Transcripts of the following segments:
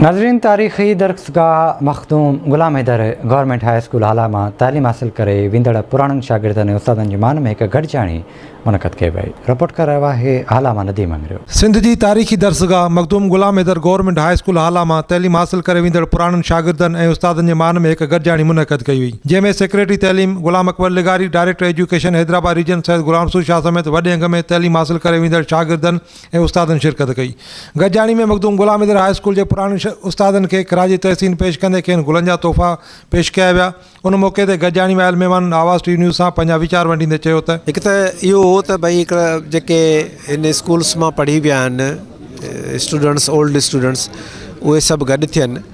ناظرين تاريخي درسگاهه Makhdoom Ghulam Haider government high school Hala مان تعليم حاصل ڪري ويندڙ پراڻن شاگردن ۽ استادن جي مان ۾ هڪ گڏجاڻي منعقد ڪئي وئي رپورٽ ڪري رهيو آهي هالا مان نديم انگريو. سنڌ جي تاريخي درسگاهه Makhdoom Ghulam Haider government high school Hala مان تعليم حاصل ڪري ويندڙ پراڻن شاگردن ۽ استادن جي مان ۾ هڪ گڏجاڻي منعقد ڪئي وئي جنهن ۾ سيڪريٽري تعليم غلام اڪبر لغاري director education Hyderabad region Syed Ghulam Rasool Shah سميت وڏي انگ ۾ تعليم حاصل ڪري ويندڙ شاگردن ۽ استادن شرڪت ڪئي. گڏجاڻي ۾ مخدوم غلام حيدر هاء اسڪول جي پراڻن استادن کي خراج تحسين پيش ڪندي کين گلن جا تحفا پيش ڪيا ويا. ان موقعي تي گڏجاڻي ۾ آيل مهمانن آواز ٽي نيوز سان پنهنجا ويچار ونڊيندي چيو ته. هڪ ته اهو هو ته ڀئي هڪڙا جيڪي هن اسڪولس مان پڙهي ويا آهن اسٽوڊنٽس اولڊ اسٽوڊنٽس اهي سڀ گڏ ٿين.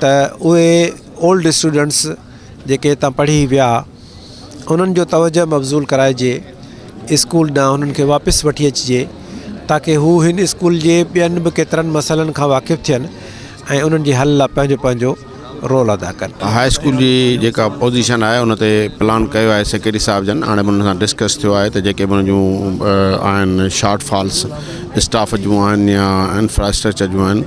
ته اهي اولڊ اسٽوڊنٽس جيڪي هتان پڙهي ويا انهن جو توجه مبذول ڪرائجي اسڪول ڏانهن انهن کي واپس وٺي اچجي تاڪي هو هن اسڪول جي ٻين به ڪيترن مسئلن کان واقف ٿين ۽ انهن جي حل لاء پنهنجو پنهنجو رول ادا ڪن هاء اسڪول جي جيڪا پوزيشن آهي ان تي پلان ڪيو آهي سيڪريٽري صاحب جن هاڻي به ان سان ڊسڪس ٿيو آهي ته جيڪي به ان جون آهن شارٽ فالس اسٽاف جون آهن يا انفراسٽرڪچر جون آهن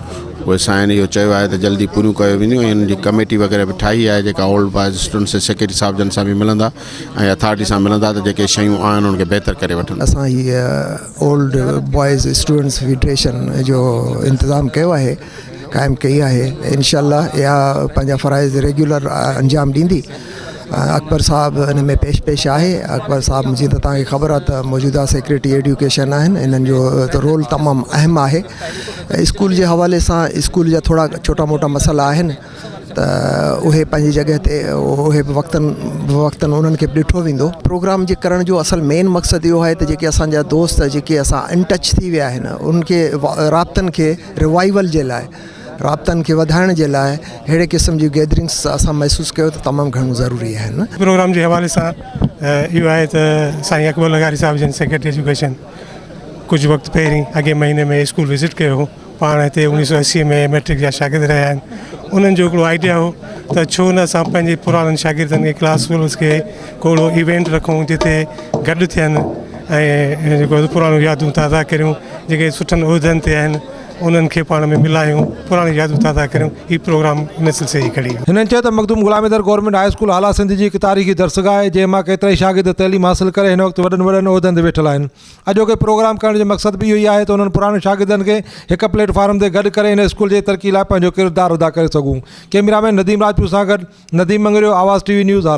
اهي سائين اهو چيو آهي ته جلدي پوريون ڪيو وينديون ۽ انهن جي ڪميٽي وغيره به ٺاهي آهي جيڪا اولڊ بوائز اسٽوڊنٽس جي سيڪريٽري صاحب جن سان به ملندا ۽ اٿارٽي سان ملندا ته جيڪي شيون آهن انهن کي بهتر ڪري وٺن. اسان هي اولڊ بوائز اسٽوڊنٽس فيڊريشن جو انتظام ڪيو آهي قائم ڪئي آهي انشاء الله اها پنهنجا فرائض ريگيولر انجام ڏيندي. اڪبر صاحب ان ۾ پيش پيش آهي اڪبر صاحب جي ته تان کي خبر آهي ته موجوده سيڪريٽري ايڊيوڪيشن آهن انهن جو رول تمام اهم آهي اسڪول جي حوالي سان اسڪول جا ٿورا ڇوٽا موٽا مسئلا آهن ته اهي پنهنجي جڳهه تي اهي به وقتن وقتن انهن کي به ڏٺو ويندو پروگرام جي ڪرڻ جو اصل مين مقصد اهو آهي ته جيڪي اسان جا دوست جيڪي اسان ان ٽچ ٿي ويا آهن ان کي رابطن کي روائيول جي لاء رابطن کي وڌائڻ جي لاء اهڙي قسم جون گيدرنگس اسان محسوس ڪيو ته تمام گهڻو ضروري آهن. پروگرام جي حوالي سان اهو آهي ته سائين اڪبر لغاري صاحب جن سيڪريٽري ايجوڪيشن ڪجهه وقت پهرين اڳئين مهيني ۾ اسڪول وزٽ ڪيو هو پاڻ هتي اڻيهه سؤ اسي ۾ ميٽرڪ جا شاگرد رهيا آهن انهن جو هڪڙو آئيڊيا هو ته ڇو نه اسان پنهنجي پراڻن شاگردن کي ڪلاس فيلوز کي ڪو اهڙو ايونٽ رکون جتي گڏ ٿين ۽ جيڪو پراڻيون يادون تازا ڪريون جيڪي سٺن عهدن تي آهن انهن کي پاڻ ۾ ملايون، پراڻيون يادون تازا ڪريون، هي پروگرام ان سلسلي جي ڪڙي هئي. هنن چيو ته Makhdoom Ghulam Haider government high school Hala Sindh جي هڪ تاريخي درسگاهه آهي جنهن مان ڪيترائي شاگرد تعليم حاصل ڪري هن وقت وڏن وڏن عهدن تي ويٺل آهن اڄوڪي پروگرام ڪرڻ جو مقصد به اهو ئي آهي ته انهن پراڻن شاگردن کي هڪ پليٽ فارم تي گڏ ڪري هن اسڪول جي ترقي لاء پنهنجو ڪردار ادا ڪري سگهون ڪيمرا مين نديم راجپوت سان گڏ Nadeem Mangrio Awaz TV news Hala.